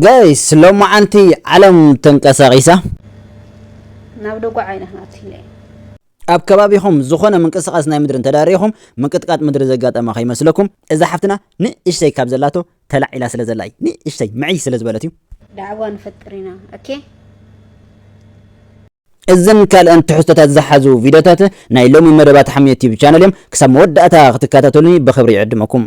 ጋይስ ሎማዓንቲ ዓለም ተንቀሳቂሳ። ናብ ደጉዓ ኢና ክንኣትይ። ኣብ ከባቢኹም ዝኾነ ምንቅስቃስ ናይ ምድሪ እንተዳሪኹም ምንቅጥቃጥ ምድሪ ዘጋጠማ ከይመስለኩም። እዛ ሓፍትና ንእሽተይ ካብ ዘላቶ ተላዒላ ስለ ዘላ እዩ ንእሽተይ ምዕይ ስለ ዝበለት እዩ። ዳዕዋ ንፈጥር ኢና ኦኬ። እዝን ካልእን ትሕዝቶታት ዝሓዙ ቪድዮታት ናይ ሎሚ መደባት ሓምየ ቲዩብ ቻነል እዮም። ክሳብ መወዳእታ ክትከታተሉኒ ብኽብሪ ይዕድመኩም።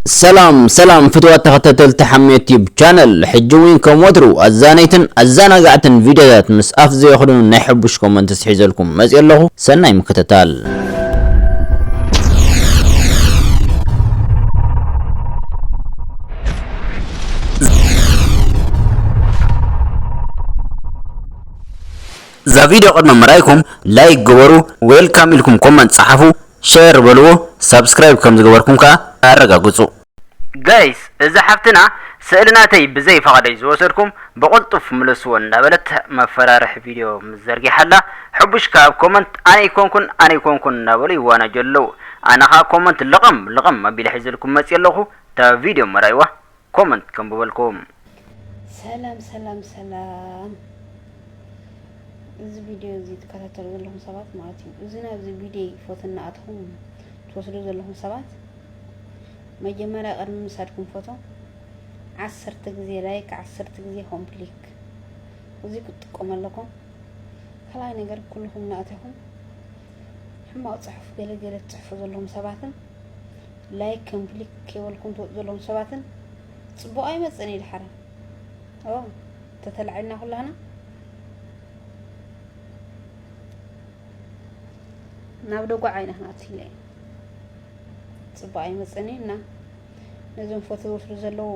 ሰላም ሰላም ፍትዋት ተኸታተልቲ ሓሜ ዩቲዩብ ቻነል ሕጂ እውን ከም ወትሩ ኣዛነይትን ኣዘናጋዕትን ቪድዮታት ምስ ኣፍ ዘየኽድኑ ናይ ሕቡሽ ኮመንትስ ሒዘልኩም መፅእ ኣለኹ ሰናይ ምክትታል እዛ ቪድዮ ቅድሚ ምርኣይኩም ላይክ ግበሩ ዌልካም ኢልኩም ኮመንት ፀሓፉ ሸር በልዎ ሳብስክራይብ ከም ዝገበርኩም ከኣ ኣረጋግጹ። Guys እዛ ሓፍትና ስእሊ ናተይ ብዘይ ፈቓደይ ዝወሰድኩም ብቕልጡፍ ምለስዎ እንዳበለት መፈራርሒ ቪድዮ ምስ ዘርጊሓላ ሕቡሽ ከኣ ኣብ ኮመንት ኣነ ኣይኮንኩን ኣነ ኣይኮንኩን እንዳበሉ ይዋናጀሉ ኣለዉ ኣነ ከኣ ኮመንት ልቕም ልቕም ኣቢለ ሒዘልኩም መጽየ ኣለኹ እታ ቪድዮ ምራይዋ ኮመንት ከንብበልኩም። ሰላም ሰላም ሰላም እዚ ቪድዮ እዚ ትከታተሉ ዘለኹም ሰባት ማለት እዩ እዚ ናብዚ ቪድዮ ፎቶ እናኣተኹም ትወስዱ ዘለኹም ሰባት መጀመርያ ቅድሚ ምሳድኩም ፎቶ ዓሰርተ ግዜ ላይክ ዓሰርተ ግዜ ኮምፕሊክ እዚ ክትጥቀሙ ኣለኩም ካልኣይ ነገር ኩልኹም እናእተኹም ሕማቕ ፅሑፍ ገለገለ ትፅሕፉ ዘለኹም ሰባትን ላይክ ከምፕሊክ ከይበልኩም ትወጡ ዘለኹም ሰባትን ፅቡቕ ኣይመፅእን እዩ ድሓረ ኦ ተተላዒልና ኩላና ናብ ደጓዕ ዓይና ክንኣቱ ኢለ እዩ ፅቡቕ ኣይመፅእን እዩ እና ነዞም ፎቶ ዝወስዱ ዘለዉ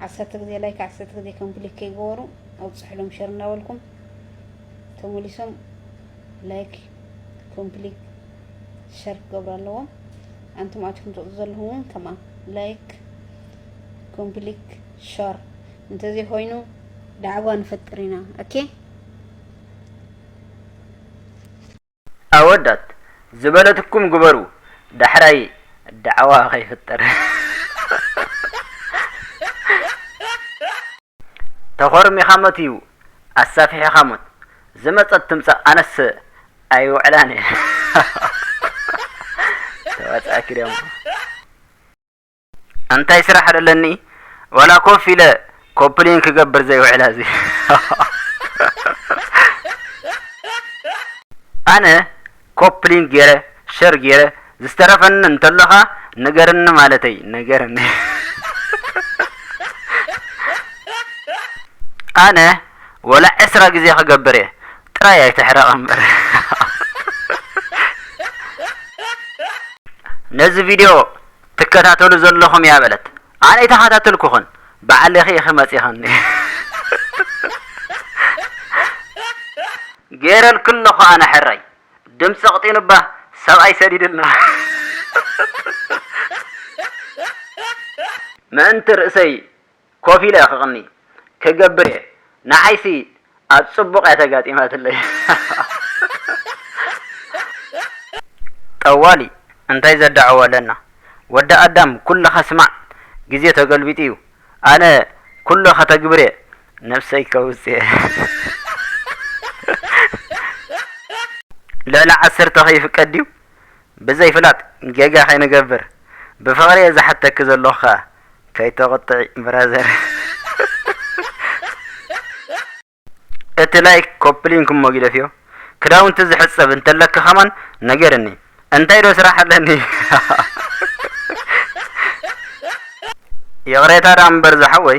ዓሰርተ ግዜ ላይክ ዓሰርተ ግዜ ከምፕሊክ ከይገበሩ ኣብፅሕሎም ሸር እናበልኩም ተመሊሶም ላይክ ኮምፕሊት ሸር ክገብሩ ኣለዎም ኣንቱም ኣትኩም ትቕፁ ዘለኹም እውን ከማ ላይክ ኮምፕሊት ሸር እንተዘይኮይኑ ዳዕጓ ንፈጥር ኢና ኦኬ ኣወዳት ዝበለትኩም ግበሩ ዳሕራይ ዳዕዋ ከይፍጠር ተኾርሚኻ ሞት እዩ ኣሳፊሒኻ ሞት። ዝመጸት ትምጻእ ኣነስ ኣይውዕላን እየ ተዋጻእኪ ደሞ። ኣንታይ ስራሕ ዶ ኣለኒ ዋላ ኮፍ ኢለ ኮፕሊን ክገብር ዘይውዕል ኣዚ። ኣነ ኮፕሊንግ ጌረ ሸር ጌረ ዝተረፈኒ እንተሎካ ንገርኒ ማለተይ ንገርኒ። ኣነ ወላ ዕስራ ግዜ ክገብር እየ ጥራይ ኣይትሕረቅ እምበር። ነዚ ቪድዮ ትከታተሉ ዘለኹም እያ በለት ኣነ ኣይተኻታተልኩኽን። ባዕልኺ ኢኺ መጺኽኒ ጌረልኪ ኣለኹ ኣነ ሕራይ ድምጺ ኣቕጢኑ እባ ሰብኣይ ሰዲድልና። ምእንቲ ርእሰይ ኮፍ ኢለ ክቕኒ ክገብር እየ ንዓይሲ ኣብ ጽቡቅ እያ ተጋጢማትለይ ጠዋሊ እንታይ ዘዳዕዎ ኣለና ወዲ ኣዳም ኩልኻ ስማዕ ግዜ ተገልቢጡ እዩ ኣነ ኩሉ ከተግብርየ ነብሰይ ከውጽየ ልዕሊ ዓሰርተ ከይፍቀድ ድዩ ብዘይ ፍላጥ ጌጋ ከይንገብር ብፍቅሪየ ዝሓተኪ ዘለኹ ከኣ ከይተቁጥዒ ብራዘር እቲ ላይክ ኮፕሊንክ እሞ ጊደፍዮ ክዳውንቲ ዝሕጸብ እንተለካ ከማን ነገርኒ እንታይ ዶ ስራሕ ኣለኒ ይቕሬታ ደኣ እምበር ዝሓወይ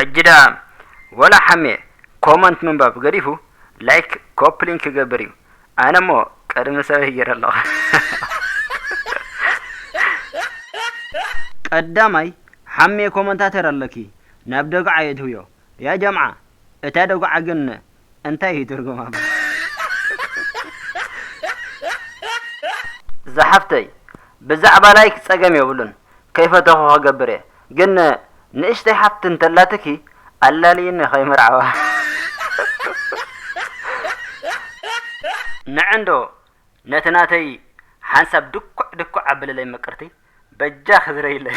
ሕጂ ደኣ ወላ ሓሜ ኮመንት ምንባብ ገዲፉ ላይክ ኮፒ ሊንክ ክገብር እዩ ኣነ እሞ ቅድሚ ሰበይ ጌረ ኣለኹ። ቀዳማይ ሓሜ ኮመንታተር ኣለኪ ናብ ደጉዓ የእትውዮ ያጀምዓ እታ ደጉዓ ግን እንታይ እዩ ትርጉማ ዛሓፍተይ ብዛዕባ ላይክ ጸገም የብሉን ከይፈተኹ ክገብር እየ ግን ንእሽተይ ሓፍቲ እንተላትኪ ኣላልይኒ ከይምርዓዋ ንዕንዶ ነቲ ናተይ ሓንሳብ ድኩዕ ድኩዕ ኣብልለይ ምቅርቲ በጃኺ ዝረይለይ።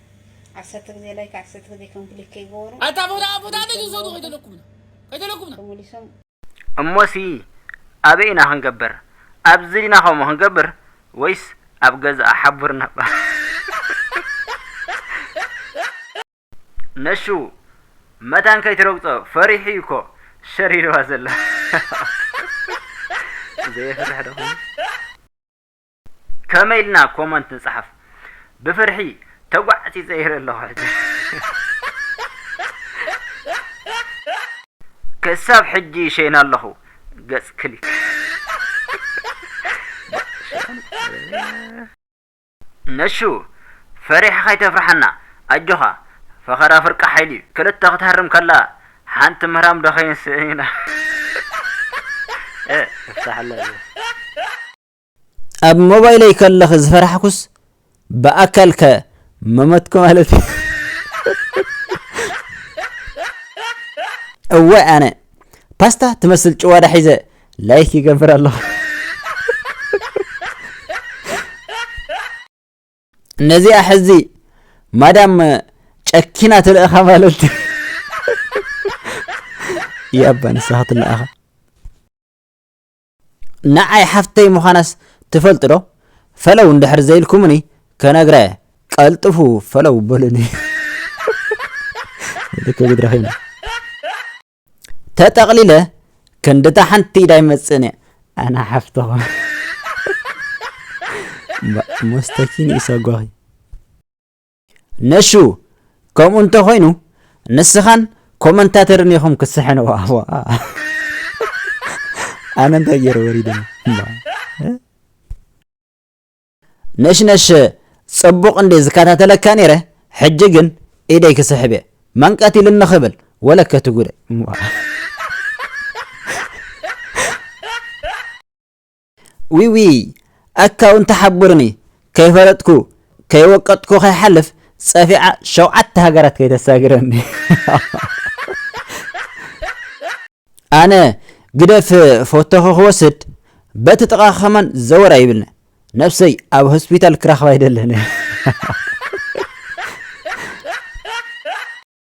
ዓሰርተ ግዜ ላይክ ዓሰርተ ግዜ ኮምፕሊት ከይገበሩ ኣታ ቦታ ቦታ ደጅ ዝሰዱ ከይደለኩምና ከይደለኩምና ተመሊሶም እሞሲ ኣበይ ኢና ክንገብር ኣብዚ ዲና ከምኡ ክንገብር ወይስ ኣብ ገዝኣ ሓቡርና እባ ነሹ መታን ከይትረግጾ ፈሪሑ እዩ እኮ ሸር ኢልዋ ዘላ ዘይፍርሕ ደኹም ከመይ ኢልና ኮመንት ንጽሓፍ ብፍርሒ ተጓዕጺጸ ይርኢ ኣለኹ ሕጂ ክሳብ ሕጂ ይሸይና ኣለኹ ገጽ ክሊክ ነሹ ፈሪሕኻ ኣይተፍርሓና ኣጆኻ ፈኸራ ፍርቂ ሓይሊ እዩ ክልተ ክትሃርም ከላ ሓንቲ ምህራም ዶ ከይንስእን ኢና እፍታሕለ ኣብ ሞባይለይ ከለኺ ዝፈራሕኩስ ብኣካል ከ መመትኩ ማለት እዩ እወ ኣነ ፓስታ ትመስል ጭዋዳ ሒዘ ላይክ ይገብር ኣለኹ ነዚኣ ሕዚ ማዳም ጨኪና ትልእኻ ማለት ያባ ንስኻ ትልእኻ ንዓይ ሓፍተይ ምዃናስ ትፈልጡ ዶ ፈለው እንድሕር ዘይልኩምኒ ከነግራ እየ ቀልጥፉ ፈለው በሉኒ ተጠቕሊለ ክንድታ ሓንቲ ኢዳ ይመፅእን እየ ኣነ ሓፍትኹም ሞስተኪን ይሰጓኺ ነሹ ከምኡ እንተ ኮይኑ ንስኻን ኮመንታተርን ኢኹም ክትስሕንዋ ኣነ እንታይ ገይረ ወሪደ ነሽነሽ ጽቡቕ እንዴ ዝከታተለካ ነይረ ሕጂ ግን ኢደይ ክስሕብ እየ መንቀት ኢሉ ንኽብል ወለከ ትጉደ ዊውይ ኣካ ውን ተሓቡሩኒ ከይፈለጥኩ ከይወቀጥኩ ከይሓልፍ ጸፊዓ ሸውዓተ ሃገራት ከይተሳግረኒ። ኣነ ግደፍ ፎቶኺ ክወስድ በቲ ጥቃኺ ከማን ዘወር ኣይብልነ ነብሰይ ኣብ ሆስፒታል ክረኽባ ኣይደለነ።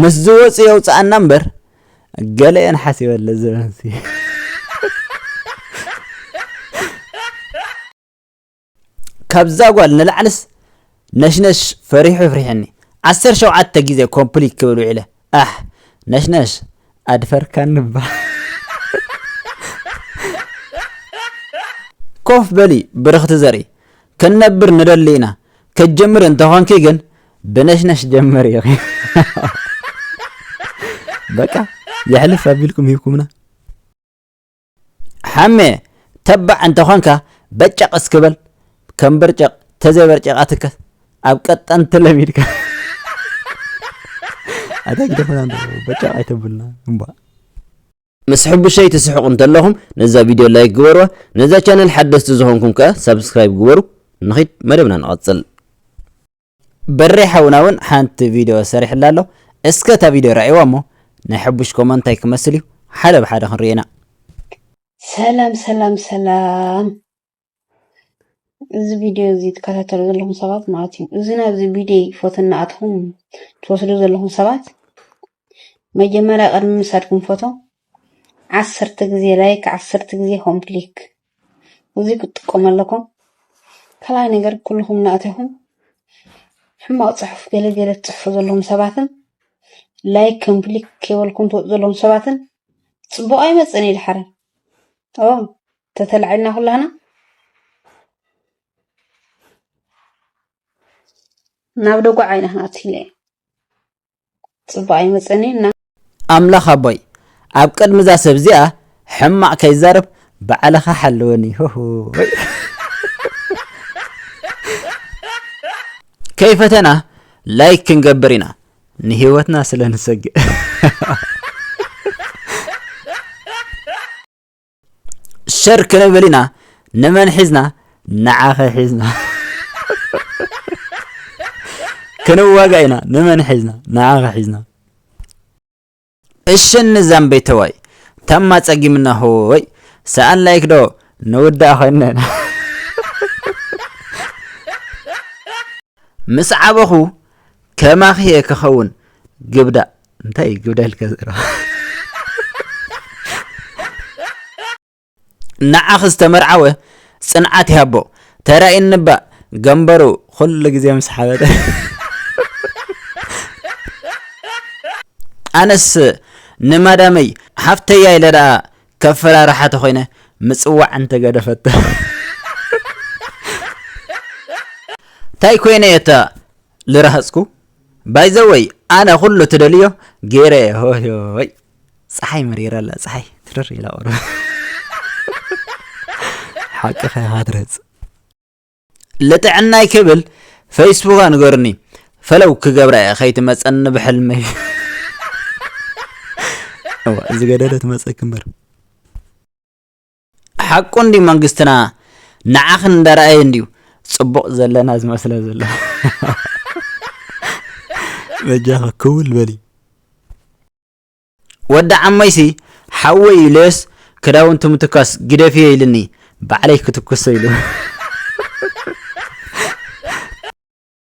ምስ ዝወጽእ የውጽኣና እምበር ገለ እየን ሓሲበለ ዘበንሲ ካብዛ ጓል ንላዕልስ ነሽነሽ ፈሪሑ ፍሪሕኒ ዓሰርተ ሸውዓተ ግዜ ኮምፕሊት ክብል ውዒለ ኣሕ ነሽነሽ ኣድፈርካኒ እባ ኮፍ በሊ ብርኽቲ ዘርኢ ክንነብር ንደሊ ኢና ከጀምር እንተኾንኪ ግን ብነሽነሽ ጀመር ኢኺ በቃ የሕልፍ ኣቢልኩም ሂብኩምና ሓሜ ተባዕ እንተኾንካ በጨቕ እስኪ በል ከም በርጨቕ ተዘይበርጨቓትከ ኣብ ቀጠንቲ ለሚድካ ኣታ ግደፈና በጨቕ ኣይተብልና እምባ ምስ ሕቡሸይ ትስሕቁ እንተለኹም ነዛ ቪድዮ ላይክ ግበርዋ ነዛ ቻነል ሓደስቲ ዝኾንኩም ከኣ ሳብስክራይብ ግበሩ ንኺድ መደብና ንቐጽል። በሬ ሓውና ውን ሓንቲ ቪድዮ ሰሪሕላ ኣሎ እስከ እታ ቪድዮ ርኣይዋ እሞ ናይ ሕቡሽ ኮመንት ታይ ክመስል እዩ ሓደ ብሓደ ክንሪኦ ኢና። ሰላም ሰላም ሰላም እዚ ቪድዮ እዚ ትከታተሉ ዘለኹም ሰባት ማለት እዩ እዚ ናብዚ ቪድዮ ፎቶ እናኣትኹም ትወስዱ ዘለኹም ሰባት መጀመርያ ቅድሚ ምሳድኩም ፎቶ ዓሰርተ ግዜ ላይክ ዓሰርተ ግዜ ሆም ክሊክ እዚ ክትጥቀሙ ኣለኩም ካልኣይ ነገር ኩልኹም እናእተኹም ሕማቕ ፅሑፍ ገለ ገለ ትፅሕፉ ዘለኹም ሰባትን ላይክ ከም ክሊክ ከይበልኩም ትወፁ ዘለኹም ሰባትን ፅቡቕ ኣይመፅእን እዩ ድሓረ ኦ ተተላዒልና ኩላህና ናብ ደጓዕ ዓይነ ክናትለ ፅባቅ ይመፀኒ እና ኣምላኽ ኣቦይ ኣብ ቅድሚ እዛ ሰብ እዚኣ ሕማቕ ከይዛረብ ባዕልኻ ሓልወኒ ሆሆ ከይፈተና ላይክ ክንገብር ኢና ንህይወትና ስለ ንሰግእ ሸር ክንብል ኢና ንመን ሒዝና ንዓኸ ሒዝና ክንዋጋ ኢና ንመን ሒዝና ንዓኸ ሒዝና እሸኒ ዛምበይ ተዋይ ታማ ጸጊምና ሆይ ሰኣን ላይክ ዶ ንውዳእ ኮይነ ምስ ዓበኹ ከማኺ እየ ክኸውን ግብዳ እንታይ እዩ ግብዳልካ ዘረባ ንዓኺ ዝተመርዓወ ፅንዓት ይሃቦ ተራእይኒ ባእ ገንበሩ ኩሉ ግዜ ምስ ሓበተ ኣነስ ንማዳመይ ሓፍተያ ኢለ ደኣ ከፈራርሓ ተኾይነ ምፅዋዕ እንተገደፈቶ እንታይ ኮይነ እየ እታ ልረሃፅኩ ባይ ዘ ወይ ኣነ ኩሉ ትደልዮ ገይረ እየ ሆይ ፀሓይ መሪራ ኣላ ፀሓይ ትርር ኢላ ቁርብ ሓቅኻ ኢኻ ትረህፅ ልጥዕናይ ክብል ፈይስቡክ ኣንገሩኒ ፈለው ክገብራ እየ ከይትመፀኒ ብሕልመይ እዋ እዚ ገደለ ትመፀኪ እምበር ሓቁ እንድዩ መንግስትና ንዓኽን እንዳረኣየ እንድዩ ጽቡቕ ዘለና ዝመስሎ ዘሎ በጃኺ ክውል በሊ ወዲ ዓሞይሲ ሓወይ ኢለዮስ ክዳውንቱ ምትኳስ ግደፍዮ ኢልኒ ባዕለይ ክትኩሶ ኢሉ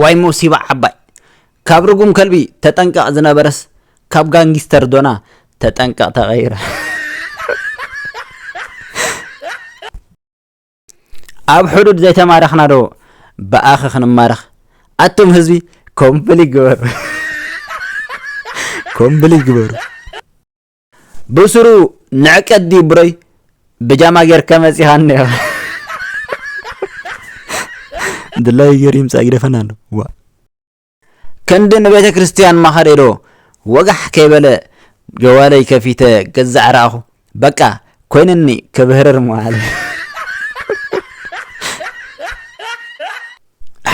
ዋይ ሞሲባ ዓባይ ካብ ርጉም ከልቢ ተጠንቀቅ ዝነበረስ ካብ ጋንጊስተር ዶና ተጠንቀቅ ተቀይረ ኣብ ሕዱድ ዘይተማረኽና ዶ ብኣኸ ክንማረኽ ኣቶም ህዝቢ ኮምፕሊ ግበሩ ኮምፕሊ ግበሩ ብስሩ ንዕቀት ድዩ ብረይ ብጃማ ጌርካ መጺኻ እንዲኻ ድላይ ገይሩ ይምጻእ ይደፈና ኣሎ ዋ ክንዲ ንቤተ ክርስቲያን ማኸደዶ ወጋሕ ከይበለ ጀዋለይ ከፊተ ገዛዕ ረኣኹ በቃ ኮይንኒ ክብህርር መዋለ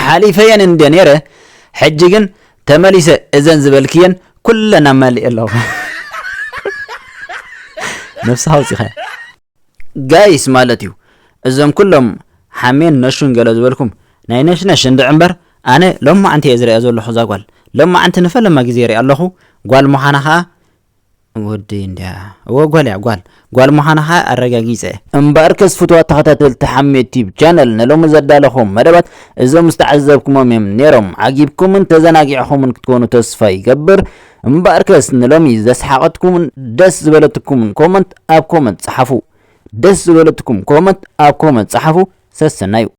ሓሊፈየን እንድየ ነይረ ሕጂ ግን ተመሊሰ እዘን ዝበልክየን ኩለን ኣማሊኤ ኣለኹ ነብስኻ ኣውጺኻያ ጋይስ ማለት እዩ እዞም ኩሎም ሓሜን ነሹን ገለ ዝበልኩም ናይ ነሽነሽ እንድዒ እምበር ኣነ ሎማዓንቲ እየ ዝሪኣ ዘለኹ እዛ ጓል ሎማዓንቲ ንፈለማ ግዜ ይሪኣ ኣለኹ ጓል ምዃና ከዓ ወደይ እንድያ እወ ጓል እያ ጓል ጓል ምዃና ከኣ ኣረጋጊጸ። እምበኣርከስ ፍቱዋት ተኸታተልቲ ሓሜት ቲዩብ ቻነል ንሎሚ ዘዳለኹዎም መደባት እዞም ዝተዓዘብኩሞም እዮም ኔሮም ዓጊብኩምን ተዘናጊዕኹምን ክትኮኑ ተስፋ ይገብር እምበኣርከስ ንሎሚ ዘስሓቐትኩምን ደስ ዝበለትኩምን ኮመንት ኣብ ኮመንት ጸሓፉ ደስ ዝበለትኩም ኮመንት ኣብ ኮመንት ጸሓፉ ሰሰናዩ